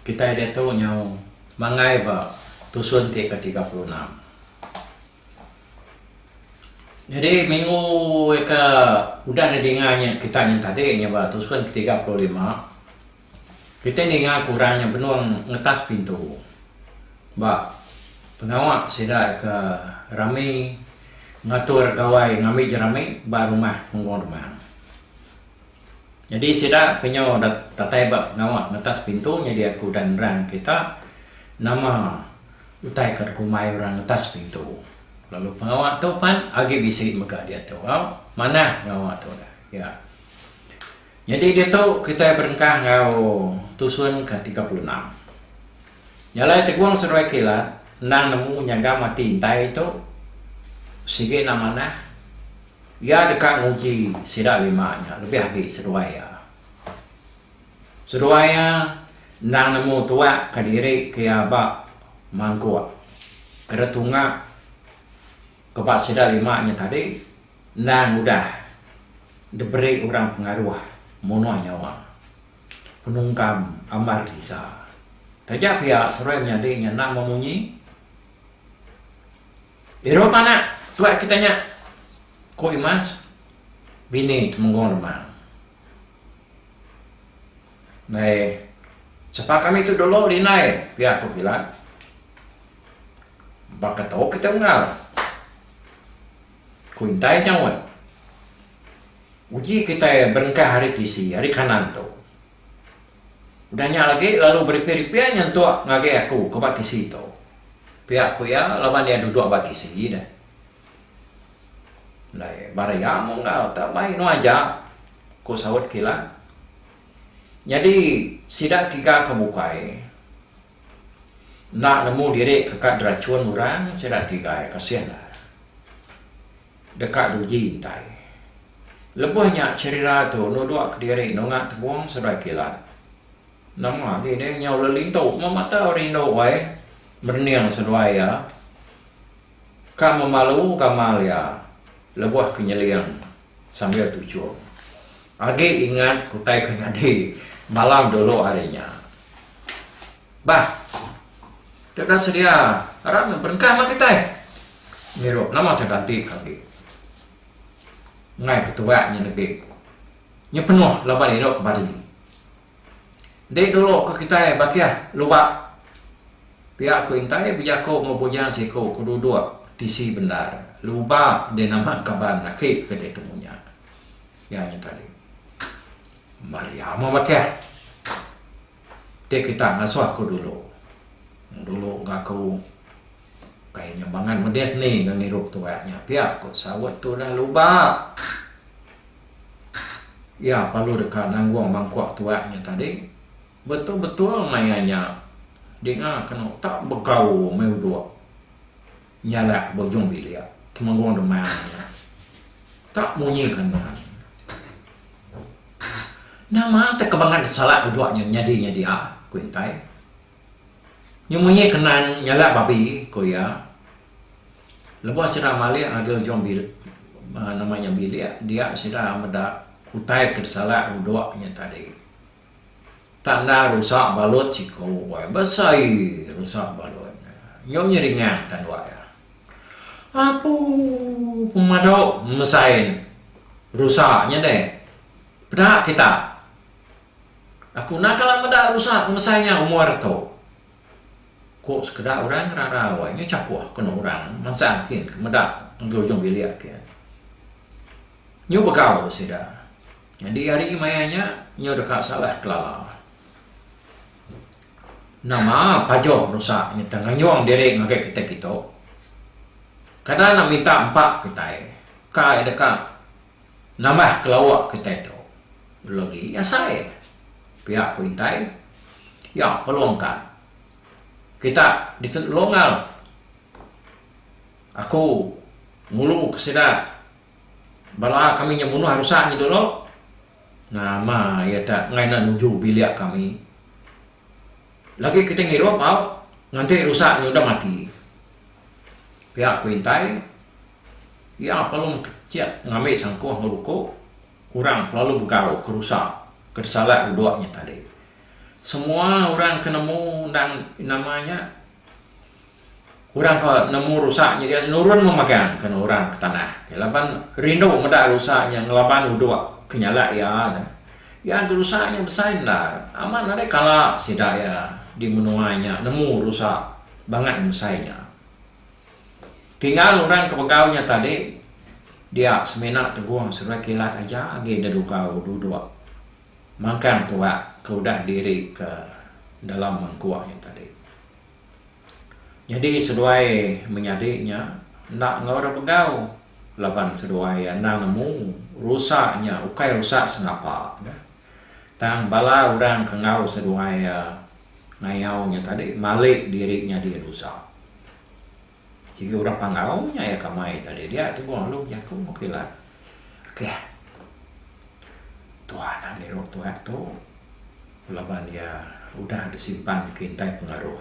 Kitai diatu nyaung manggai ba tusun ti ke tiga puluh enam. Nyadi minggu ke udah nya dinga nya kitai nya tadi nya ba tusun ke tiga puluh lima kitai ninga ke orang nya benung ngetas pintu ba pengawa sida ke rami ngatur gawai ngambi jerami ba rumah Punggong Demang. Nyadi sida ke nyau datai ba pengawa ngetas pintu nyadi aku udah nerang kita nama utai ke dikumbai orang ngetas pintu lalu pengawa tu pan agi bisi mega diatu au manah pengawa tu dah ya nyadi diatu kitai berengkah enggau tusun ke tiga puluh enam jalai tegong seduai kilat endang nemu nyagam ati intai tu sigi enda manah. Iya deka nguji sida lima nya lebih agi seduai iya. Seduai iya endang nemu tuakka diri ke iya ba mangkuk ke retunga ke ba sida lima nya tadi endang udah diberi orang pengaruh munuh nyawa penungkam ambar disa. Taja pia seduai menyadi nya endang memunyi. Irup anak tuai kita nya, ku Imas, bini Temenggong Lemang. Nadai sapa kami tu dulu lindai pia ku Kilat. Baka tau kita unggal, ku intai nyaut. Uji kitai berengkah ari tisi ari kanan tu. Udah nya agi lalu beripi-ripi nyentuk ngagai aku ke ba tisi tu. Pia ku iya laban iya duduk ba tisi deh. Alai baru iya mung enggau tau mai inu aja, ku saut kilan. Nyadi sida tiga ke bukai enda nemu diri ke kad derachun orang sida tiga iya kasih ne. Deka duji intai. Lebuh nya Cherira tu nuduk kediri nunga tebung seberai kilat. Nama agi deh nyau lelintu meh mata rindu ai merening seduai iya. Ka memalu gamal iya lebuh ke nyeling sambil tuchum. Agi ingat kutai ke nyadi malam dulu ari nya. Bah. Tu dah sedia arap meh berengkah ba kitai. Ngirup nama tau dati ka agi. Ngai ketuak nya degi. Nya penuh laban indu ke bari. Enti dulu ke kitai ba kiah lubak pia ku intai bejaku enggau bujang siku ke duduk tisi bendar lubak deh nama kaban aki ke ditemu nya. Iya nya tadi. Maria meh ba kiah. Ti kita ngasuh ku dulu. Dulu ga aku ukai nya bangat medis ni ga ngirup tuak nya pia ku saut tu udah luba. Iya perlu deka nanggung mangkuk tuak nya tadi. Betul betul maya nya dinga kena utak begau meh uduk. Nyalak bujung bilik Temenggong Demang nya tak munyi kandang. Nama te ke bangat disalak dudok nya nyadi nya dia? ku Intai. Nyu munyi kenan nyalak babi, ku iya. Lebuh sida malik ngagai ujung bilik nama nya bilik dia sida meda utai ke disalak dudok nya tadi. Tanda rusak balut siku wai besai rusak balut nya. Nyom nya ringan tanduk iya. Apu pemadu mesai rusak nya deh. Peda kita. Aku enda kala meda rusak mesai nya umur aku. Ku sekeda orang ngerarau ai. Nya chakuh kenu orang mansang kin ke meda enggau ujung bilik kin. Nyu begau sida. Nyadi ari maya nya nyau deka salah kelala. Nama pajoh nusa nyentang nganyung diri ngagai kitai kitu? Kada enda minta empa kitai ka iya deka nambah kelawa kitai tu logi asai pia ku intai iya pelong ka kita dikelongal aku ngulu ke sida. Bala kami nya munuh rusa nya dulu. Nama iya ta enggai enda nuju bilik kami. Lagi kita ngirup au nganti rusa nya udah mati. Pia aku intai, iya pelum kecit ngambi sangkuh enggau buku, orang kelalu begau ke rusa ke disalat uduk nya tadi. Semua orang ke nemu endang nama nya Orang ke nemu rusa nya dia nurun memagang ke orang ke tanah ke laban rindu meda rusa nya ngelaban udok ke nyalak iya nya. Iya enti rusa nya besai endar amat nadai kala sida iya di menua nya nemu rusa bangat besai nya. Tinggal orang ke begau nya tadi dia semina tegong sereta kilat aja agi da dugau dudok mangkang tuak ke udah diri ke dalam mangkuk nya tadi. Nyadi seduai menyadi nya enda enggau orang begau laban seduai iya endang nemu rusa nya ukai rusa sengapa ne tang bala orang ke enggau seduai iya ngayau nya tadi malik diri nyadi rusa. Sigi orang Panggau nya iya kamai tadi dia tebung lalu bejaku enggau kilat. Keh. Tuan nya ngirup tuek tu laban iya udah disimpan ke intai pengaruh.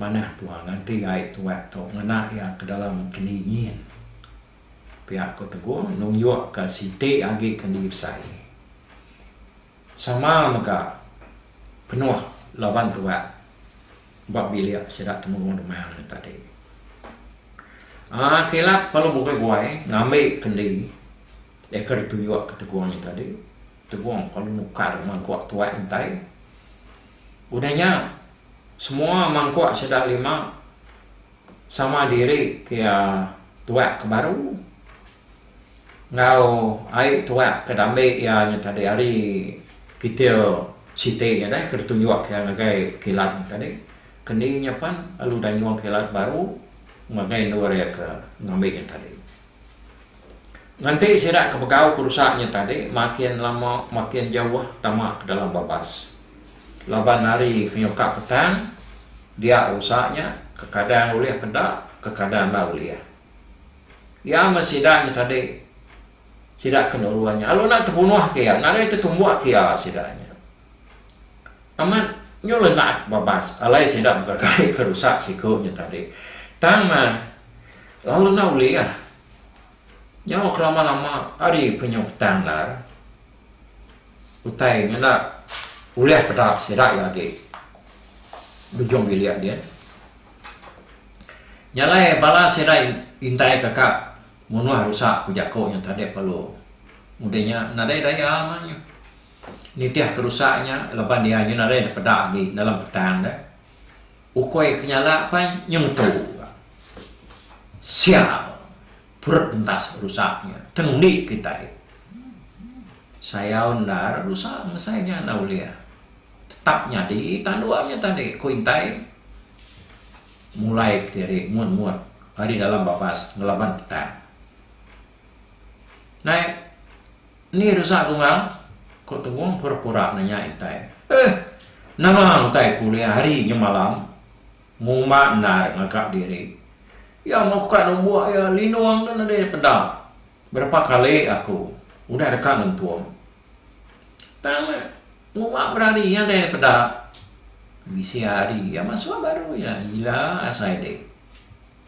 Manah tuan nganti ai tuek tu ngena iya ke dalam keni nyin. Pia ko tebung nunjukka siti agi ke diusai. Sama mega penuh laban tuak ba bilik sida temurun dema hari tadi. Aaa kilat pelu bukai buai ngambi kendi deka dituyuk ke Tegong hari tadi. Tegong pelu nukar mangkuk tuak intai. Udah nya semua mangkuk sida lima sama diri ke tuak ke baru. Enggau ai tuak ke diambi iya nya tadi ari kitil siti nya deh ke ditunjuk iya ngagai kilat nya tadi ke ni nya pan lalu udah nyuang kilat baru ngagai endur iya ke ngambi nya tadi. Nganti sida ke begau perusa nya tadi makin lama makin jauh tama ke dalam babas laban hari ke nyukak petang dia rusa nya kekadang ulih peda kekadang enda ulih. Iya meh sida nya tadi. Sida ke nurun nya lalu enda tebunuh ke iya, nadai tetumbuk ke iya sida nya. Amat nyul enda bebas alai sida begeregai ke rusak siku nya tadi. Tang meh lalu enda ulih nyau ke lama-lama ari pun nyau petang ndar. Utai nya enda ulih peda sida agi bejung bilik din. Nya alai bala sida intai kaka munuh rusa ku jako nya tadek pelu. Udah nya nadai daya mah nya nitih ke rusa nya laban dia nya nadai da peda agi dalam petang de. Ukoi ke nyala pai nya ngetu ka. Sial purut pentas rusa nya tang undi kitai. Sayau endar rusa mesai nya enda ulih. tetap nyadi tanduk nya tadi ku intai mulai kediri mut mut ari dalam babas ngelaban petang. Nai eni resa Dungang? ku Tebong pura pura nanya intai. Eh nama utai ku ulih ari nyemalam ngumba endar ngaga diri. Iya meh ukai numbuk iya Linong tu nadai dipeda berapa kali aku udah deka ngentung. Tang le. Puma berari iya deh peda. Bisi hari iya masua baru iya ila asai deh.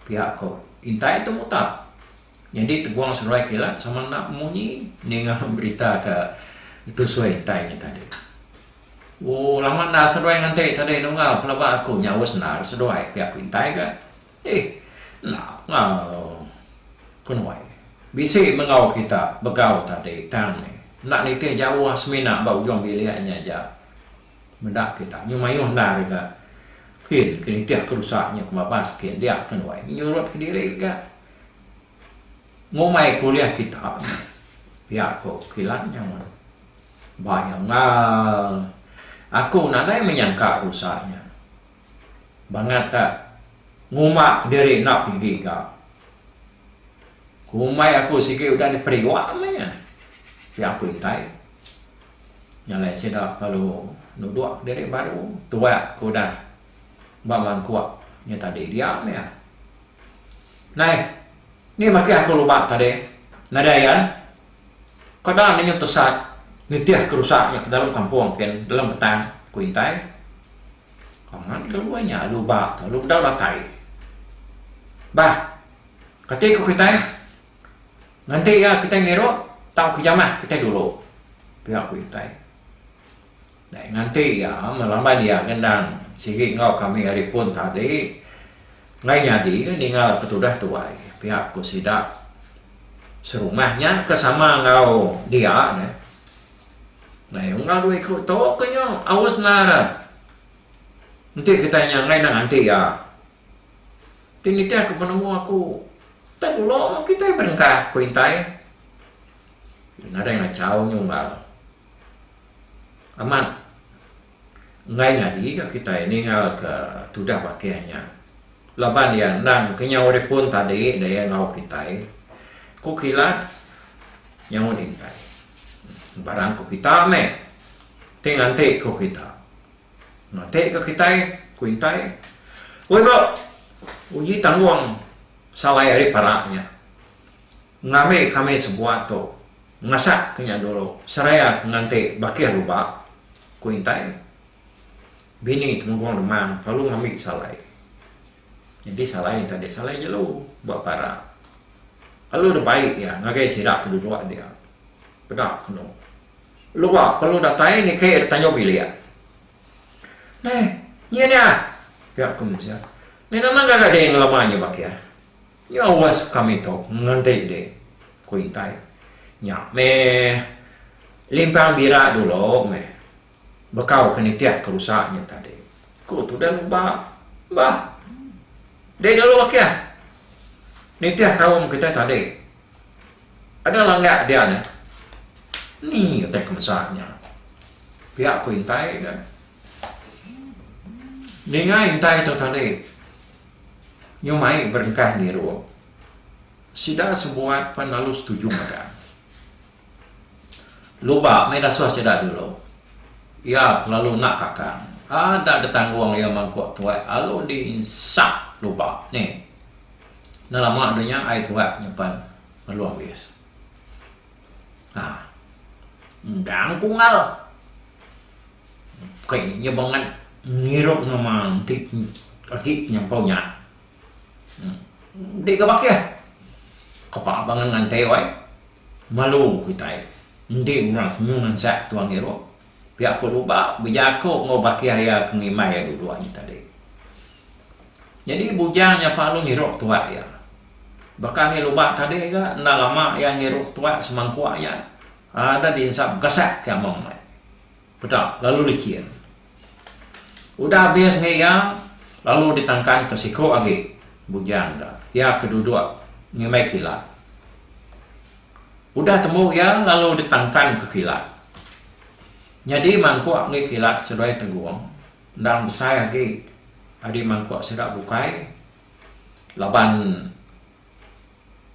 Pia ko. Intai tu muta. Nyadi tegung seruai kilat sama enda munyi ninga berita ke tusui intai nya tadi. Ooh lama enda seruai nganti tadi nunggal pelaba aku nya uss enda seduai pia ko intai ga. Ih, enda ngau. Ku nuai. Bisi mengau kita begau tadi tang meh enda nitih jauh semina ba ujung bilik nya aja. Meda kita nyu mayuh endar ega. Kin ke nitih ke rusa nya ke babas kin dia ke nuai nyurut kediri ega. Ngumbai ke ulih kita pia ko kilan nya mun. Ba iya ngau. Aku nadai menyangka rusa nya. Bangata, Nguma kediri enda pigi ga. Kumai aku sigi udah diperiwa meh iya. Pia aku intai. Nya alai sida lalu nuduk kediri baru tuak ke udah ba mangkuk nya tadi dia meh iya. Nai, ni makih aku lumak tadi. Nadai iya. Ko da ninga tesat nitihka rusa nya ke dalam kampung kin dalam petang, ku intai. Kongan kelu ai nya alu ba tu alu bedau datai. Bah, kati ku kitai nganti iya kitai ngirup tau ke jamah kitai dulu. Pia ku kitai. Dai nganti iya melamban iya ngendang sigi enggau kami ari pun tadi enggai nyadi ninga ke tudah tuai. Pia ku sida serumah nya ke sama enggau dia ne. Lai unggal dua iku tu ke nya aus nara. Enti kitai nya enggai nang anti iya. Ti nitih aku penemu aku utai gula meh kitai berengkah ku intai. Nadai ngachau nya unggal. Amat. Enggai nyadi ga kitai ninggalka tudah bakih nya laban iya endang ke nyau ari pun tadi da iya enggau kitai, ku kila nyaut Intai. Barang ku kita meh ti nganti ku kita. Ngati ga kitai, ku Intai. Woi ba uji tanggung salai ari parak nya. Ngambi kami sebuah tu masak ke nya dulu seraya nganti bakih lubak, ku Intai. Bini Temenggung Demang lalu ngambi salai. Nyadi salai enti adi salai jelu ba para. Lalu dibai iya ngagai sida ke duduk dia. Peda kenu. Lua lalu datai niki ida tanjung bilik. Neh, nyi nya? pia ku mensia. Neh nama ngagai diri ngelama nya bakih? Nya was kami tu ngenti deh, ku Intai. Nya meh, limpang bira dulu meh bekau ke nitih ke rusa nya tadi, ku Tuda Nuba. Bah, deh dulu akih nitih kaum kitai tadi. Ada langak dia nya. Ni utai ke mesa nya? pia ku Intai dah ninga Intai tu tadi. Nya mai berengkah ngiru. Sida sebuat pan lalu setuju mega. Luba mai dasuh sida dulu. Iya kelalu enda kakang. Ada detanggung iya mangkuk tuai alu di insap luba ni. Enda lama dulu nya ai tuai nyimpan ngelung bis. Haa. Endang kungal. Ukai nya bangat ngirup nama enti agi penyampau nya. Enti ga baka kapa bangat ngantai wai malu kitai enti orang ke nyuh ngansak ke tuan ngirup pia ko luba bejaku enggau baka iya ke ngimbai iya dulu agi tadi. Nyadi bujang nya palu ngirup tuak iya. Baka agi luba tadi ga enda lama iya ngirup tuak semangkuk nya ada di ensam gasak ke amang meh. Peda lalu lichin. Udah abis ngi iya lalu ditangkan ke siku agi bujang da iya ke duduk ngimbai kilat. Udah tembu iya lalu ditangkan ke kilat. Nyadi mangkuk ngi kilat seduai tegung endang besai agi adi mangkuk sida bukai laban.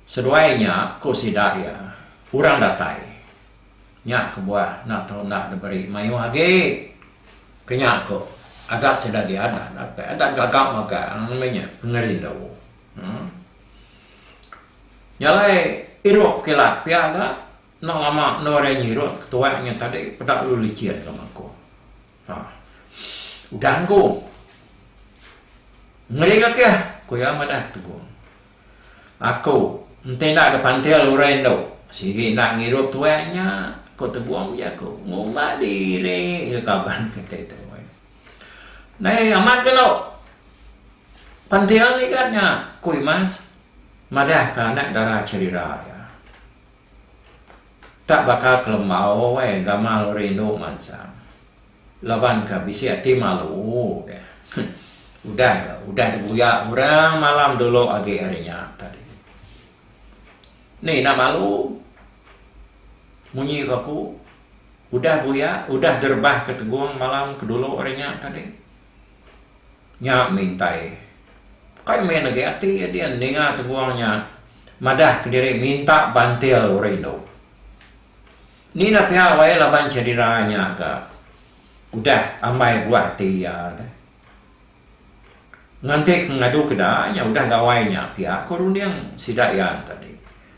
Seduai nya, ku sida iya, orang datai nya kebuah enda tau enda diberi mayuh agi. Ke nya ku adat sida diadah datai adat gaga magang nama nya pengerindu. Uhh. Nya alai irup kilat pia ga enda lama endur iya nyirut ketuai nya tadi peda lalu licin ke mangku. Uhh. Udah engku. Ngering akih, ku iya madah Tegung. Aku, Enti enda ke pantil orang indu, sigi enda ngirup tuai nya, ku Tebong ku jaku. Ngumbat diri ke kaban kitai tu. Nadai amat kenu pantil igat nya, ku Imas madahka anak dara cherira iya. Tak baka kelembau ai gamal orang indu mansang. Laban ka bisi ati malu ke. Udah ka udah dibuyak orang malam dulu agi ari nya tadi. Ni enda malu. Munyi ka ku udah buyak udah direbah ka tegong malam ke dulu ari nya tadi. Nya mintai kai main agi ati ya din ninga tegong nya madah kediri minta bantil rindu. Ni na pia wai laban cedera nya ga udah ambai buah ati iya da. Nganti ke ngadu ke da nya udah gawai nya pia ko runding sida iya tadi.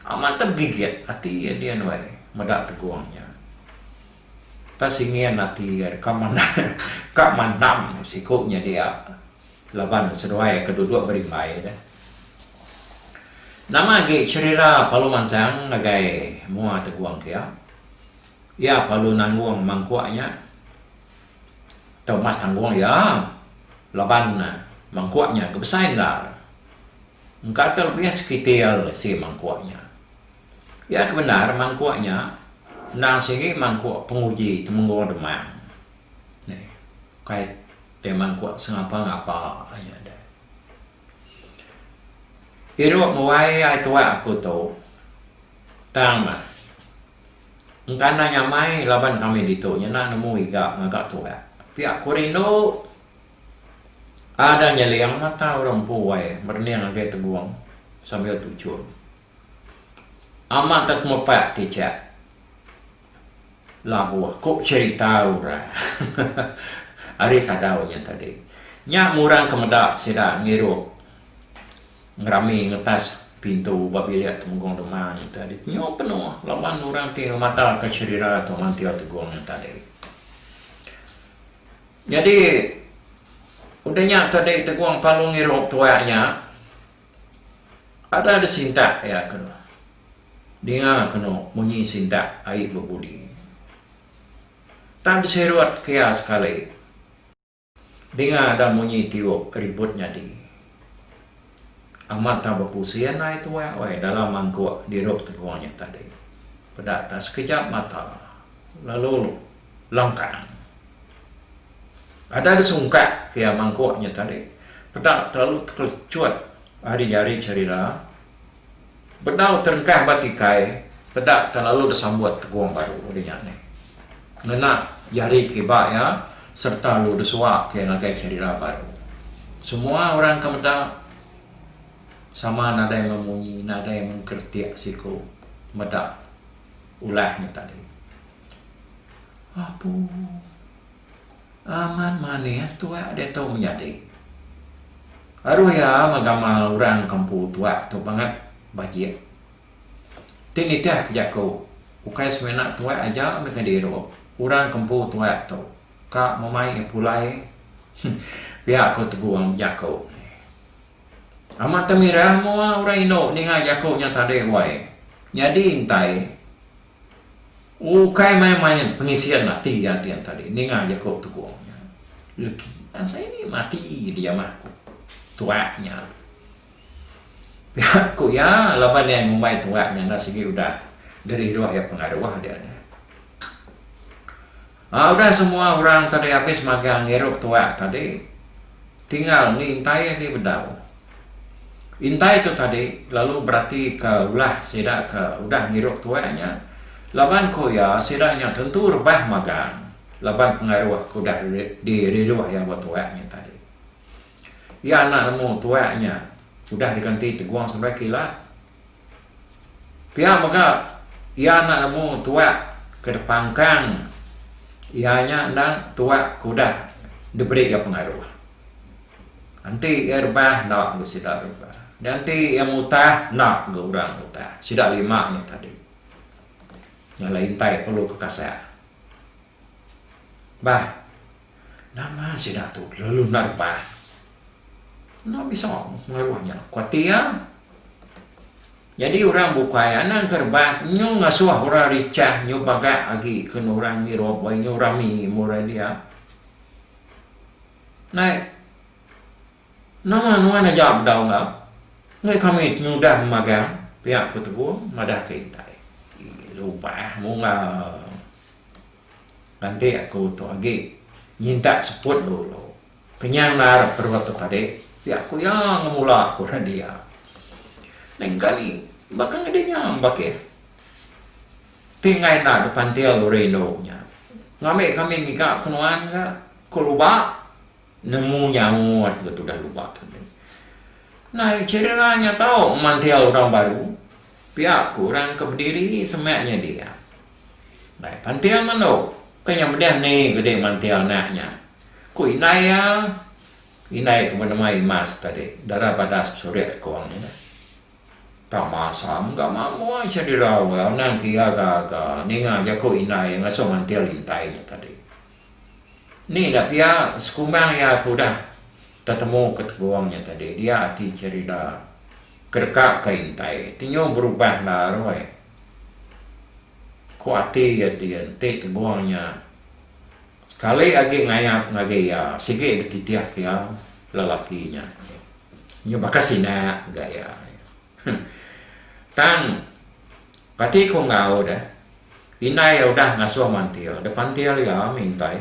Amat da begigit ati iya din wai meda tegong nya. Tau singin ati iya ka mandam ka mandam siko nya dia. Laban seduai ke duduk berimbai deh. Nama agi cherira Palu mansang ngagai mua Tegong kia? Iya palu nanggung mangkuk nya. Tau mas tanggung iya laban mangkuk nya ke besai endar. Engka tau lebih sekitil isi mangkuk nya. Iya ke bendar mangkuk nya endang sigi mangkuk penguji Temenggong Demang. Ukai. Teman kuat sengapa ngapa nya deh. Irup muai ai tuak aku tu tang meh. Engkana nyamai laban kami ditu nyena nemu iga ngaga tuak. Pia ku rindu. Ada nyeling mata orang empu ai merening agi tegong sambil tuchun. Amat ka kemepak ti cha labuh ku cherita orang ari sadau nya tadi. Nya murang ke meda sida ngirup ngerami ngetas pintu ba bilik Temenggung Dema nya tadi. Nyu penuh laban orang ti ngemata ka cherira tu mantir Tegong nya tadi. Nyadi udah nya tadi Tegong Palung ngirup tuak nya. Ada di sintak iya ke ninga kenu munyi sintak ai bebudi. Tang disirut ke iya sekali ninga ada munyi tiup ribut nyadi. Amat tang bepusin ai tuai weh dalam mangkuk dirup tegong nya tadi. Peda ta sekejap mata lalu Longkang. Ada disungkak pia mangkuk nya tadi. Peda telalu tekelecut ari-ari cherila. Bedau terengkah ba tikai, peda telalu disambut tegong baru di nya nih. Ngena jari kiba iya sereta lu disuak iya ngagai cherila baru. Semua orang ke meda sama nadai memunyi, nadai mengkeritik siku meda ulah nya tadi. Apu. Amat manis tuak diatu menyadi. Aduh iya meh gamal urang kempu tuak tu bangat bajik. Ti nitih ke jaku ukai semina tuak aja meh ke diru urang kempu tuak tu ka memai iya pulai pia ku tegung jaku nya. Amat temirah mua urang indu ninga jaku nya tadi wai. Nyadi intai. Ukai main-main pengisian ati iya dian tadi ninga jaku Tegong nya. Legi asai ni mati dijamah ku tuak nya. Pia ku iya laban iya ngumbai tuak nya enda sigi udah diriruh iya pengaruh dian nya. Aa udah semua orang tadi abis magang ngirup tuak tadi tinggal ni intai agi bedau. Intai tu tadi lalu berati ka ulah sida ka udah ngirup tuak nya laban ko iya sida nya tentu rebah magang laban pengaruh ke udah di riruh iya ba tuak nya tadi. Iya anak nemu tuak nya udah diganti tegong seberai kila. Pia mega iya enda nemu tuak ke dipangkang iya nya enda tuak ke udah diberi iya pengaruh. Enti iya rebah enda mega sida rebah. Nya enti iya ngutah enda mega orang ngutah. Sida lima nya tadi. Nya lah intai perlu kekasang. Bah. Nama sida tu lalu nerba. Enda bisa pengaruh nya. Kuatir iya. Nyadi orang bukai anang ke rebak nyu ngasuh orang richah nyu pagak agi ken orang ngirup wai nyu rami murah dia. Nai nama nuan aja bedau enggau ngai kami ti nyudah magang pia ku Teguh madah ke intai. Lupa mung ga. Landik aku tu agi nyintak seput dulu. Kenyang nar perut tu tadi. Pia ku iya ngemula ku Radia. Lain kali baka ngeda nya bagi ti enggai enda dipantil uri indu nya. Ngambi kami ngiga ke nuan ga ku luba nemu nyaut ga tudah luba tadi. Nai cherira nya tau mantil orang baru. Pia ku orang ke bediri semak nyadi iya. Ndai panting andu ke nya medeh ni ke dei manting anak nya. Ku indai iya, indai ke benema Imas tadi, dara badas besurik ku orang nya. Tang masa mega mamboi seh dirau iya anang ke iya gaga ninga jaku indai iya ngasuh manting intai nya tadi. Ni enda pia sekumbang iya ke udah tetemu ke tegong nya tadi dia ati cherida ke deka ke intai ti nyu berubah lalu ai. Ku ati iya dia enti tegong nya sekali agi ngayap ngagai iya sigi dititih ke iya lelaki nya. Nya baka sinak ga iya. Tang ati ku enggau deh indai iya udah ngasuh mantil deh pantil iya mintai.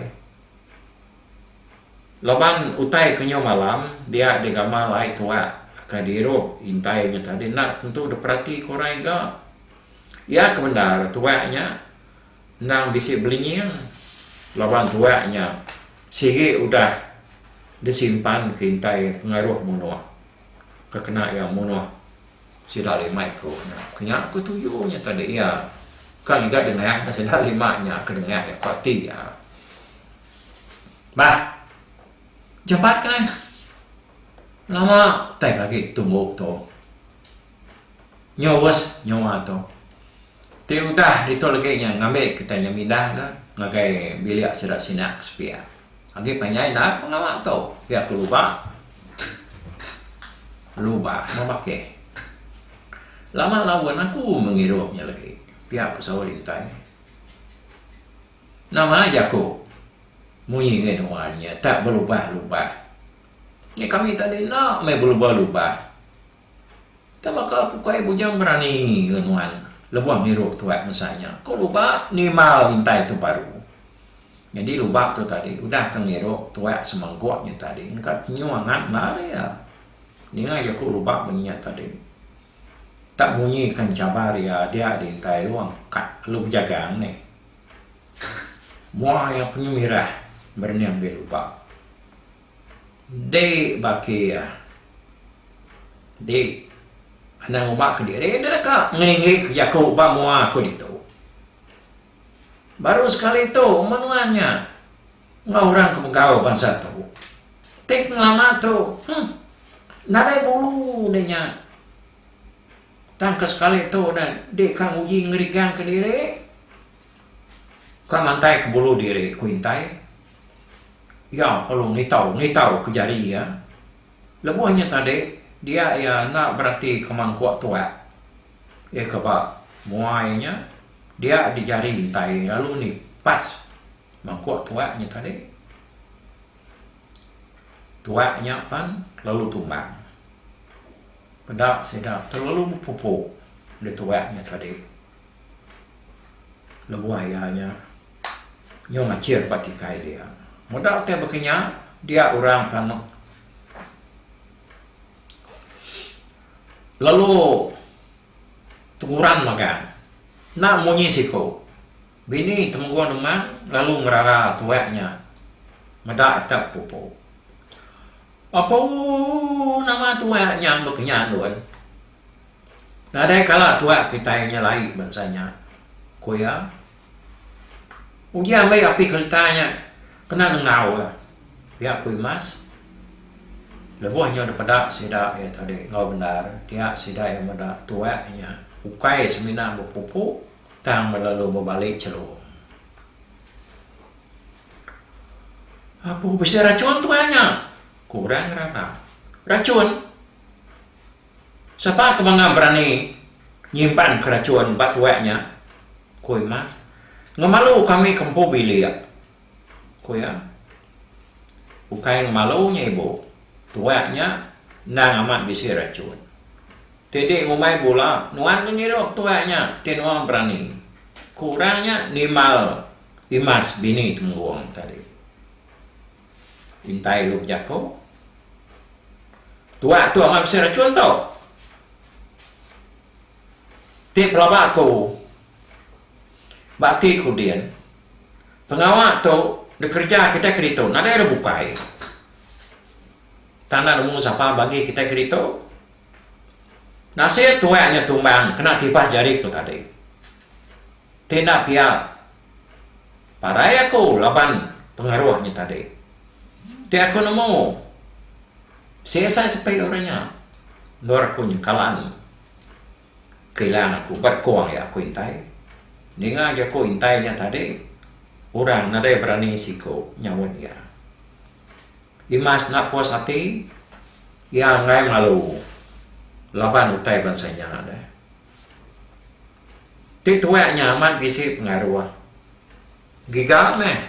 Laban utai ke nyu malam dia digamal ai tuak ka dirup intai nya tadi enda tentu diperati ke orang iga. Iya ke bendar tuak nya endang bisi belinying laban tuak nya sigi udah disimpan ke intai pengaruh munuh ke kena iya munuh sida lima iku nya. Ku nya ku tuju nya tadi iya ka ngiga dengah sida lima nya ke dengah iya parti iya. Bah. Japat ke neh. Lama utai ke agi tumbu tu. Nyurus nyua tu. Ti udah ditu legi nya ngambi kitai nya mindah ke ngagai bilik sida sina ke sepia. Agi panjai enda ke pengawa tu. Pia ke luba. Luba meh bakih. Lama laun aku mengirup nya legi. Pia ke saut intai. Nama jaku munyi ngi nuan nya tak belubah-lubah. Nya kami tadi enda meh belubah-lubah. Tama ka aku kai bujang berani ngi nuan lebuh miruh tuat masa nya. Ko luba nimbal intai tu baru. Nyadi luba tu tadi udah ka ngiruh tuat semengguk nya tadi engka tenyu angat endar iya. Ninga jaku luba munyi nya tadi. Tak munyi ka enchabar iya dia di intai lu angkat lu bejagang meh. Mua iya pengemirah berening di lupa. Dik baki iya. Dik, anang uma ke diri enda deka ngeringgi jaku ba mua aku ditu. Baru sekali tu menua nya enggau orang ke begau bansa tu. Ti pengelama tu, huh, nadai bulu deh nya. Tang ke sekali tu ne dih ka nguji ngerigang ke diri, ka mantai ke bulu diri ku intai. Iya perlu ngitau ngitau ke jari iya. Lebuh nya tadi dia iya enda berati ke mangkuk tuak. Iya ke ba muai nya dia di jari intai lalu nipas mangkuk tuak nya tadi. Tuak nya pan lalu tumbang. Peda sida telalu bepupu dituak nya tadi lebuh iya nya nyau ngachir ba tikai dia. Meda utai baka nya dia orang pan lalu tenguran magang. Enda munyi siku. Bini Temenggung Demang lalu ngerara tuak nya meda ka pupu. Apo nama tuak nya amba kenya ndun? Nadai kala tuak kitai nyelai bansa nya, ku iya. Uji ambi api kelita nya kena nengau ka, pia ku Imas. Lebuh nyau dipeda sida iya tadi enggau bendar, dia sida iya meda tuak nya ukai semina bepupu. Tang ba lalu bebali chelu. Abu bisi rachun tuai nya, ku orang ngerarap. Rachun? Sapa ke mangah berani nyimpanka rachun ba tuai nya? ku Imas. Ngemalu kami ke empu bilik. Ku iya, ukai ngemalu nya ibu, tuak nya endang amat bisi rachun. Ti di ngumbai bula, nuan ke ngidup tuak nya ti nuan berani. Ku orang nya nimbal imas bini Temenggung tadi. Intai lu bejaku, Tuak tu amat bisi rachun tu. Ti pelaba aku. Ba ati ku din, pengawa tu dikereja kitai keditu nadai ira bukai. Tang enda nemu sapa bagi kitai keditu. Nasit tuai nya tumbang kena tipas jari ku tadi. Ti enda pia parai aku laban pengaruh nya tadi. Ti aku nemu CSI sepi uri nya endur aku nyengkalan. Kilang aku ba dekung iya aku intai. Ninga jaku intai nya tadi, orang nadai berani siku nyaut iya. Imas enda puas ati, iya enggai malu laban utai bansa nya deh. Ti tuak nya amat bisi pengaruh. Giga meh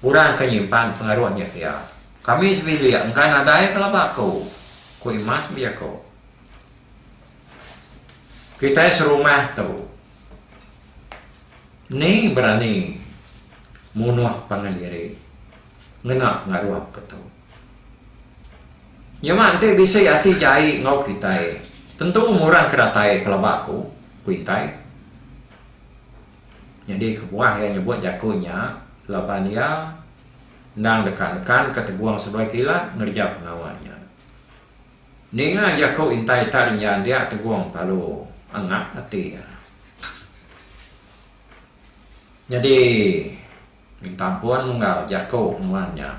orang ke nyimpan pengaruh nya ke iya. Kami sebilik enggai nadai ke laba aku, ku Imas bejaku. Kitai serumah tu ni berani munuh pangan diri ngena pengaruh ke tu. Nyema enti bisi ati jai enggau kitai tentu ngurang ke datai pelaba aku, ku intai. Nyadi kebuah iya nyebut jaku nya laban iya endang deka nekanka Teguang Seduai Kilat ngereja pengawa nya. Ninga jaku intai tang iya dia tegong palu angap ati iya. Nyadi minta ampun unggal jaku nuan nya.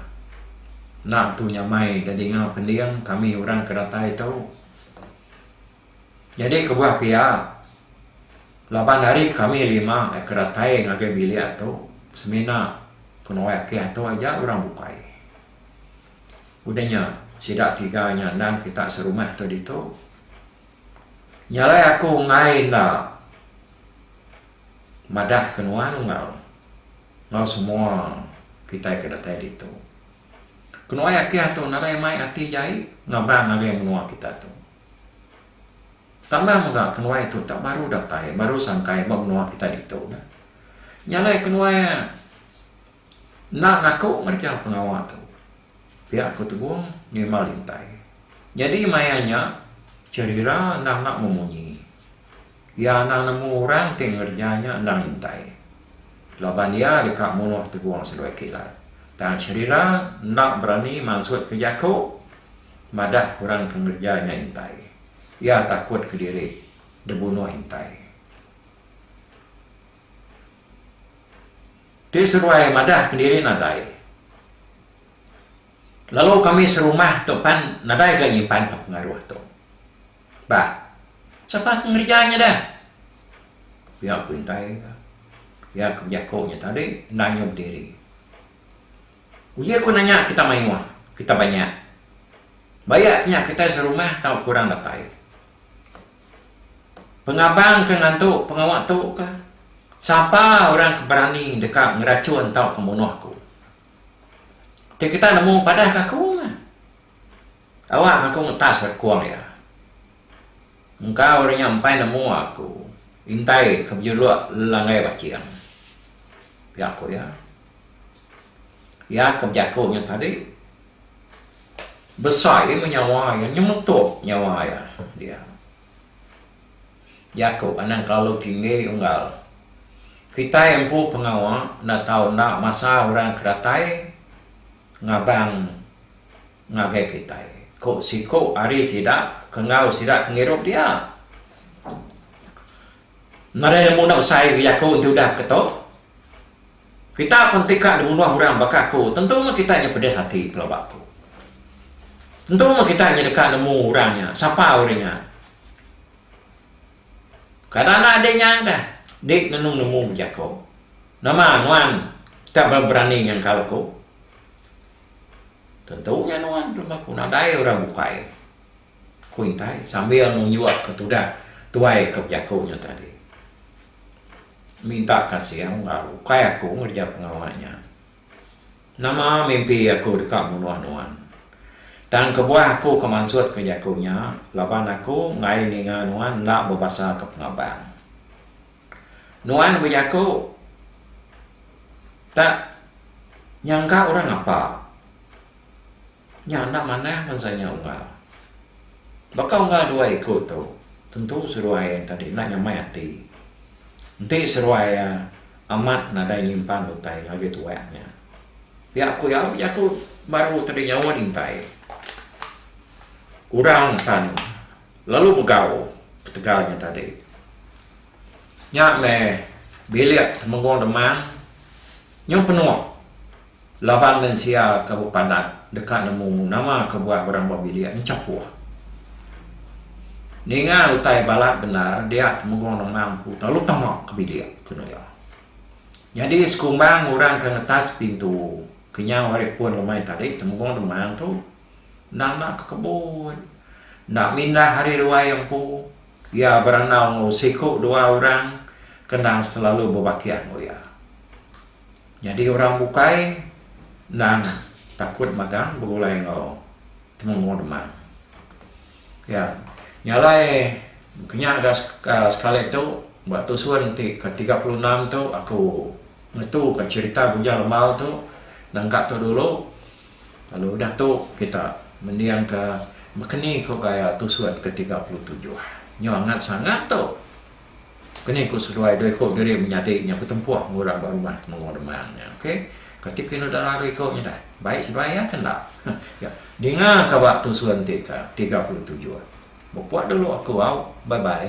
Enda tu nyamai da dinga pending kami orang ke datai tu. Nyadi kebuah pia laban ari kami lima ke datai ngagai bilik tu semina ke nuai ati atu aja orang bukai. Udah nya, sida tiga nya endang kita serumah tu ditu. Nya alai aku enggai enda madahka nuan enggau enggau semua kitai ke datai ditu. Kenuai Akih tu nadai mai ati jai ngaban ngagai menua kita tu. Tambah mega kenuai tu tak baru datai, baru sangkai ba menua kita ditu. Nya alai kenuai. Endang aku ngereja pengawa tu. Pia ku Tegong ngima lintai. Nyadi maya nya, Cherira endang enda memunyi. Iya endang nemu orang ti ngereja nya endang intai. Laban iya deka munuh Tegong seloi kilat. Tang Cherira enda berani mansutka jaku madah orang ke ngereja nya intai. Iya takutka diri dibunuh intai. Ti seruai madah kendiri nadai. Lalu kami serumah tu pan nadai ga nyimpanka pengaruh tu. Bah, sapa ke ngereja nya deh? Pia ku intai nya. Pia ke bejaku nya tadi enda nyau bediri. Uji aku nanya kita mayuh, kita banyak. Bayak nya kitai serumah tau ke orang datai. Pengabang ke ngantu pengawa tu ka, sapa orang ke berani deka ngerachun tauka munuh aku. Ti kita nemu padah ke aku meh. Awak aku ngetas rekung iya. Engka orang nya empai nemu aku intai ke bejuluk Langgai Baching, pia ku iya. Iya ke bejaku nya tadi besai meh nyawa iya nyemetuk nyawa iya dia. Jaku anang kelalu tinggi unggal kitai empu pengawa enda tau enda masa orang ke datai ngabang ngagai kitai ku siku ari sida ke enggau sida ke ngirup dia. Nadai nemu enda usai agi aku enti udah beketo. Kita pun enti ka dimunuh orang baka aku tentu meh kita nya pedis ati pelaba aku. Tentu meh kita nya deka nemu orang nya sapa orang nya. Kada anak adi nya dah di ngenung nemu bejako. Nama nuan ka ba berani nyangkal aku. Tentu nya nuan ke rumah aku nadai orang bukai. Ku intai sambil nunjuk ke tudah tuai ke bejaku nya tadi. Minta kasih enggau ukai aku ngereja pengawa nya. Nama mimpi aku deka munuh nuan. Tang kebuah aku ke mansut ke jaku nya laban aku enggai ninga nuan enda bebasa ke pengabang. Nuan bejaku tak nyangka orang apa. Nya anak manah bansa nya unggal. Baka unggal dua iku tu, tentu seruai iya tadi enda nyamai ati. Enti seruai iya amat nadai nyimpan utai labi tuak nya. Pia ku iya, bejaku baru tadi nyawa dintai. Orang akan lalu begau ketegal nya tadi. Nya meh bilik Temenggong Demang nyau penuh. Laban mensia ke bepandak deka nemu nama kebuah orang ba bilik enchapuh. Ninga utai balat bendar dia Temenggong Lemang empu telalu tama ke bilik, ku nuya. Nyadi sekumbang orang ke ngetas pintu kenyau ari pun lemai tadi Temenggong Lemang tu enda enda ke kebut. Enda mindah ari ruai empu iya berandau enggau siku dua orang ke endang selalu bebakih enggau iya. Nyadi orang bukai endang takut magang begulai enggau Temenggung Demang. Iya nyalai kinya ga sekali tu ba tusun ti ke tiga puluh enam tu aku ngetuka cherita Bujang Lembau tu nengka tu dulu lalu udah tu kita mendingka bekeni ku gaya tusun ke tiga puluh tujuh. Nyo angat sangat tu. Ke ni ku seduai dua iku diri menyadi nya betempuh enggau orang ba rumah Temenggung Demang nya ok. Kati pinu dara dua iku nya dah. Baik seduai iya ke enda. Yak. Dinga ka ba tusun ti ka tiga puluh tujuh. Bepok dulu aku au. Bye bye.